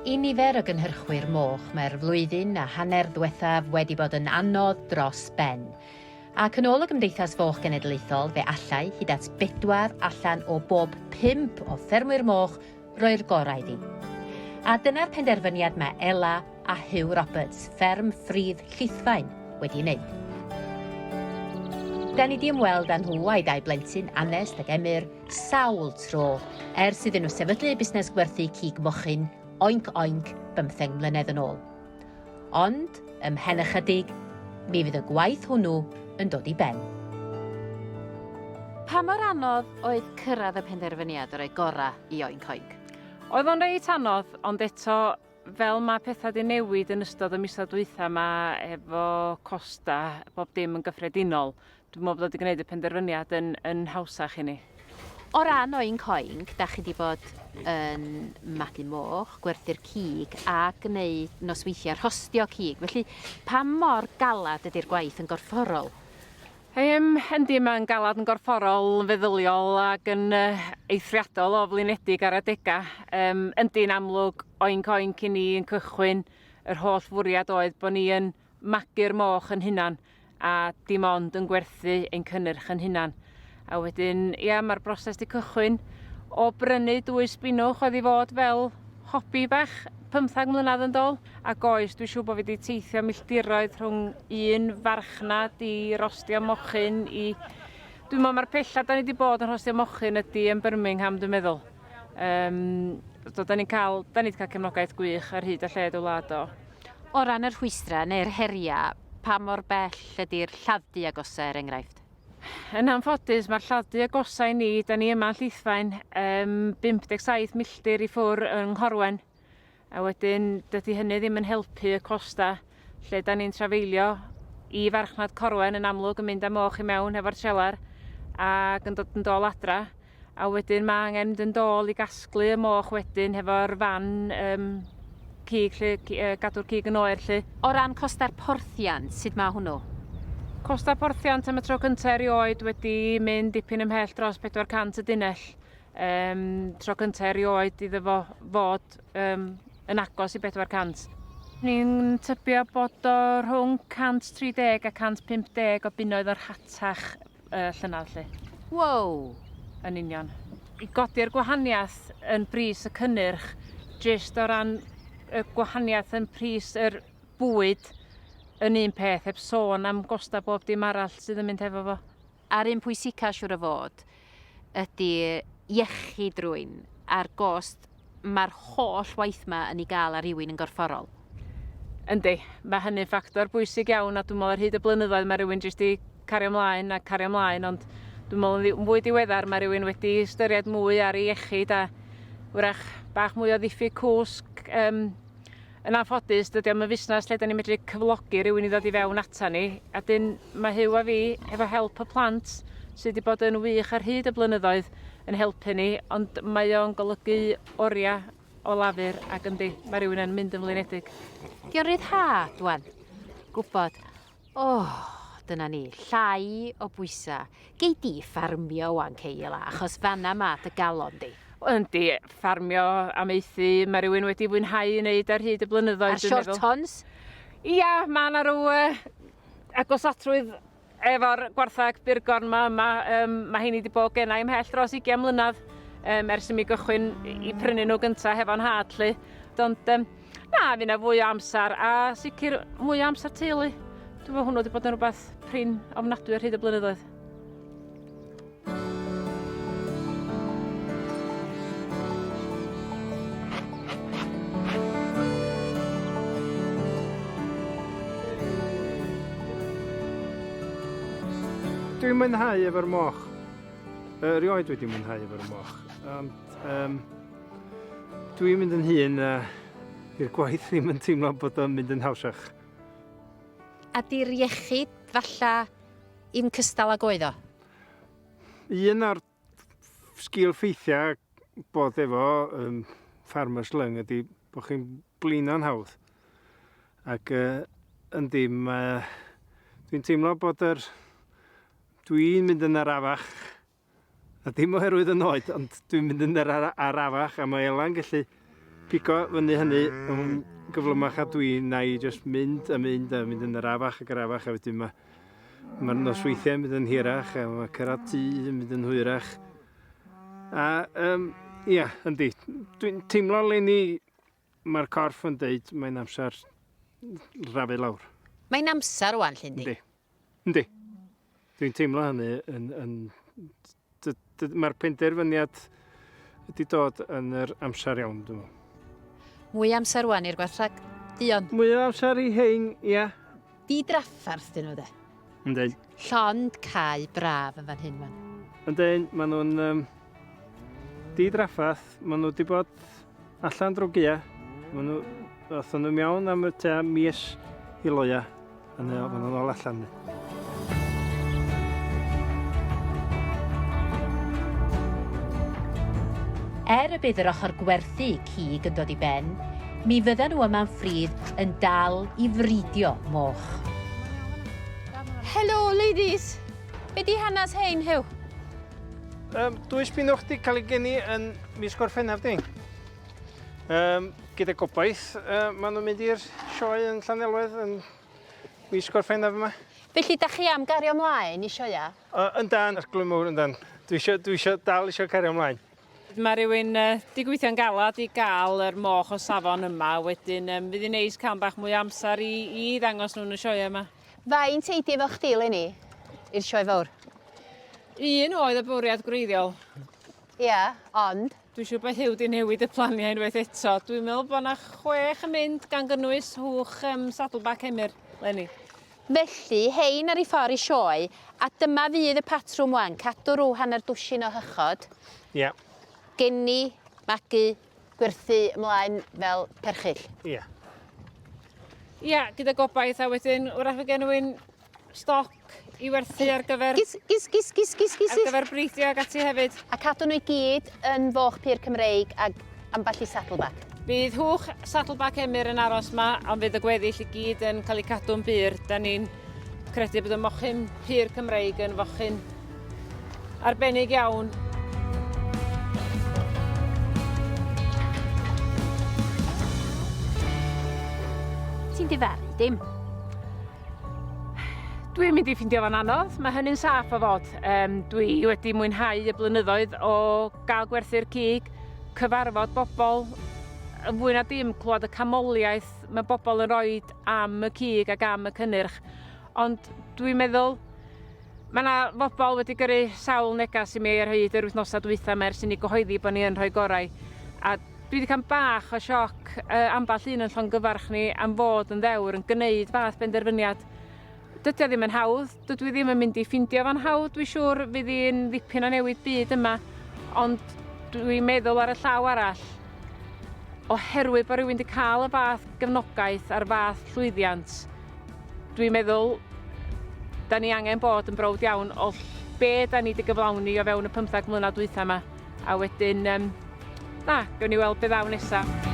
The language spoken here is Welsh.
I nifer o gynhyrchwyr moch, mae'r flwyddyn a hanner ddiwethaf wedi bod yn anodd dros ben. Ac yn ôl y Gymdeithas Foch Genedlaethol, fe allai hyd at bedwar allan o bob pump o ffermwyr moch Roi'r gorau iddi. A dyna'r penderfyniad mae Ella a Huw Roberts, fferm ffridd Llithfaen, wedi wneud. Da ni di ymweld â nhw a'i dau blentyn, Anest ac Emyr, sawl tro, ers iddyn nhw sefydlu busnes gwerthu cig mochyn, oinc oinc, bymtheng mlynedd yn ôl. Ond, ymhen ychydig, mi fydd y gwaith hwnnw yn dod i ben. Pa mor anodd oedd cyrraedd y penderfyniad o roi gorau i Oink Oink? Oedd o'n reit anodd, ond eto, fel mae pethau di newid yn ystod y misoedd dwytha yma efo costa bob dim yn gyffredinol, Dwi'n meddwl bod o 'di gwneud y penderfyniad yn, yn hawsach i ni. O ran oink oink, da chi 'di bod yn magu moch, gwerthu'r cig a gwneud nosweithiau rhostio cig, felly pa mor galed ydy'r gwaith yn gorfforol? Yym, yndi, mae'n galed yn gorfforol, yn feddyliol ac yn uh, eithriadol o flinedig ar adegau. Um, yndi'n amlwg, oink oink i ni yn cychwyn, yr holl fwriad oedd bod ni yn magu'r moch yn hunan a dim ond yn gwerthu ein cynnyrch yn hunan. A wedyn, ia, mae'r broses di cychwyn o brynu dwy sbinwch oedd i fod fel hobi bach pymthag mlynedd yn dol. A goes, dwi'n siŵr bod fi wedi teithio milltiroedd rhwng un farchnad i rostio mochyn i... Dwi'n meddwl mae'r pella da ni wedi bod yn rhostio mochyn ydy yn Birmingham, dwi'n meddwl. Um, so, da ni'n cael, da ni wedi cael cefnogaeth gwych ar hyd a lled o wlad o. O ran y rhwystrau neu'r heriau, pa mor bell ydy'r lladd-dy agosaf er enghraifft? Yn anffodus, mae'r lladd-dy agosaf i ni, da ni yma yn Llithfaen, um, 57 milltir i ffwr yng Nghorwen, a wedyn dydy hynny ddim yn helpu y costa lle da ni'n trafeilio i farchnad Corwen yn amlwg yn mynd â moch i mewn efo'r trelar ac yn dod yn dol adra. A wedyn mae angen mynd yn dôl i gasglu y moch wedyn hefo'r fan um, cig, lle, uh, gadw'r cig yn oer lle. O ran costau'r porthiant, sut mae hwnnw? Costau porthiant am y tro cyntaf erioed wedi mynd dipyn ymhell dros 400 y dunell. Um, tro cyntaf erioed iddo fo fod um, yn agos i 400. Ni'n tybio bod o rhwng 130 a 150 o bunnoedd o'r hatach. y llynedd 'lly. Wow! Yn union. I godi'r gwahaniaeth yn bris y cynnyrch, jyst o ran y gwahaniaeth yn pris yr bwyd yn un peth, heb sôn am gosta bob dim arall sydd yn mynd hefo fo. A'r un pwysica siŵr o fod ydy iechyd rwy'n a'r gost mae'r holl waith yma yn ei gael ar rywun yn gorfforol. Yndi, mae hynny'n ffactor bwysig iawn a dwi'n meddwl ar hyd y blynyddoedd mae rhywun jyst wedi cario ymlaen a cario ymlaen ond dwi'n meddwl yn fwy diweddar mae rhywun wedi ystyried mwy ar ei iechyd a wrach bach mwy o ddiffyg cwsg um, Yn anffodus, dydy o'm yn fusnes lle 'dan ni'n medru cyflogi rhywun i ddod i fewn ata ni, a 'dyn mae Huw a fi, hefo help y plant, sydd wedi bod yn wych ar hyd y blynyddoedd, yn helpu ni, ond mae o'n golygu oriau o lafur, ac yndi, mae rhywun yn mynd yn flinedig. Di o'n ryddhad, wan? Gwbod. O! Dyna ni, llai o bwysa. Gei di ffarmio ŵan Kayla, achos fanna ma dy galon di. Yndi, ffarmio, amaethu, mae rhywun wedi fwynhau i wneud ar hyd y blynyddoedd. A'r shortons? Ia, mae yna rhyw uh, agosatrwydd efo'r gwarthag burgon yma. yma. Um, mae hyn i wedi bod gennau ymhell dros 20 mlynedd um, ers i mi gychwyn i prynu nhw gyntaf hefo'n had. Lle. Ond um, Na, fi na fwy o amser a sicr mwy o amser teulu. Dwi'n meddwl hwnnw wedi bod yn rhywbeth prin ofnadwy ar hyd y blynyddoedd. Dwi'n mwynhau efo'r moch. Erioed wedi mwynhau efo'r moch, ond yym Dwi'n mynd yn hun a i'r gwaith ddim yn teimlo bod o'n mynd yn hawsach. A di'r iechyd falla i'm cystal ag oedd o? Un o'r sgil ffeithiau bod efo um, farmer's lung ydy bod chi'n blino'n hawdd. Ac uh, yndi, uh, dwi'n teimlo bod yr... Dwi'n mynd yn arafach A dim oherwydd y noed, ond dwi'n mynd yn yr ar arafach a mae Elan gallu pigo fyny hynny yn gyflymach a dwi na i just mynd a mynd a mynd yn yr afach ac arafach a wedyn mae mae'r nosweithiau yn mynd yn hirach a mae cyrraedd tŷ yn mynd yn hwyrach. A um, ia, yndi, dwi'n teimlo le ni mae'r corff yn deud mae'n amser rafu lawr. Mae'n amser o'n llun di. Yndi. Dwi'n teimlo hynny yn... yn Mae'r penderfyniad wedi dod yn yr amser iawn, dwi'n meddwl. Mwy amser wan i'r gwarthag, Dion. Mwy o amser i hein, ia. Di draffarth dyn nhw, de. Yndi. Llond cae braf yn fan hyn, wan. Yndyn, maen nhw'n... Um, di draffarth, maen nhw wedi bod allan drwy gia. Maen nhw, othon nhw mewn am y tua mis i loia. A maen nhw'n ôl allan ni. Er y bydd yr ochr gwerthu cig yn dod i ben, mi fydda nhw yma'n ffrydd yn dal i fridio moch. Helo, ladies! Be di hanes hein, Huw? Um, dwy spinwch di cael ei geni yn mis Gorffennaf ni. Um, gyda gobaith, uh, maen nhw'n mynd i'r sioe yn Llanelwedd yn mis Gorffennaf yma. Felly, da chi am gario ymlaen i sioia? Uh, yn dan, arglwydd mawr, yn dan. Dwi eisiau, dwi eisiau dal eisiau cario ymlaen. Mae rhywun uh, di gweithio'n galad i gael yr moch o safon yma, wedyn um, fydd hi'n neis cael bach mwy amser i, i ddangos nhw'n y sioe yma. Fain teidi efo chdi, Lenny, i'r sioe fawr? Un oedd y bwriad gwreiddiol. Ia, ond. Dwi'n siŵr bod Huw 'di newid y planiau unwaith eto. Dwi'n meddwl bod yna chwech yn mynd gan gynnwys hwch um, Saddleback Emyr, Lenny. Felly, hein ar ei ffordd i sioe, a dyma fydd y patrwm wan, cadw rhyw hanner dwsin o hychod. Ia. Yeah. Geni, magu, gwerthu ymlaen fel perchill. Ia. Yeah. Ia, yeah, gyda gobaith, a wedyn wrach fe genwyn stoc i werthu ar gyfer... Gis, gis, gis, gis, gis, gis. Ar gyfer breidio ag ati hefyd. A cadw nhw i gyd yn foch pur Cymreig ag ambell i saddleback. Bydd hwch saddleback Emyr yn aros ma, ond fydd y gweddill i gyd yn cael eu cadw'n bur. Da ni'n credu bod y mochyn pur Cymreig yn fochyn arbennig iawn. Ti'n difaru dim. Dwi'n mynd i ffindio fo'n anodd, mae hynny'n saff o fod. Um, dwi wedi mwynhau y blynyddoedd o gael gwerthu'r cig, cyfarfod bobl, yn fwy na dim clywed y camoliaeth mae bobl yn rhoi am y cig ac am y cynnyrch. Ond dwi'n meddwl Mae yna fobl wedi gyrru sawl negas i mi ar hyd yr wythnosau dwytha mae'r sy'n ei gyhoeddi bod ni yn rhoi gorau. A dwi wedi cael bach o sioc uh, ambell un yn llongyfarch ni am fod yn ddewr yn gwneud fath benderfyniad. Dydy o ddim yn hawdd, dydw i ddim yn mynd i ffindio fo'n hawdd, dwi siŵr fydd hi'n ddipyn o newid byd yma, ond dwi'n meddwl ar y llaw arall, oherwydd bod rhywun wedi cael y fath gefnogaeth a'r fath llwyddiant, Dwi'n meddwl, da ni angen bod yn browd iawn o be da ni wedi gyflawni o fewn y 15 mlynedd dwytha yma. A wedyn, um, na, gawn ni weld beth ddaw nesaf.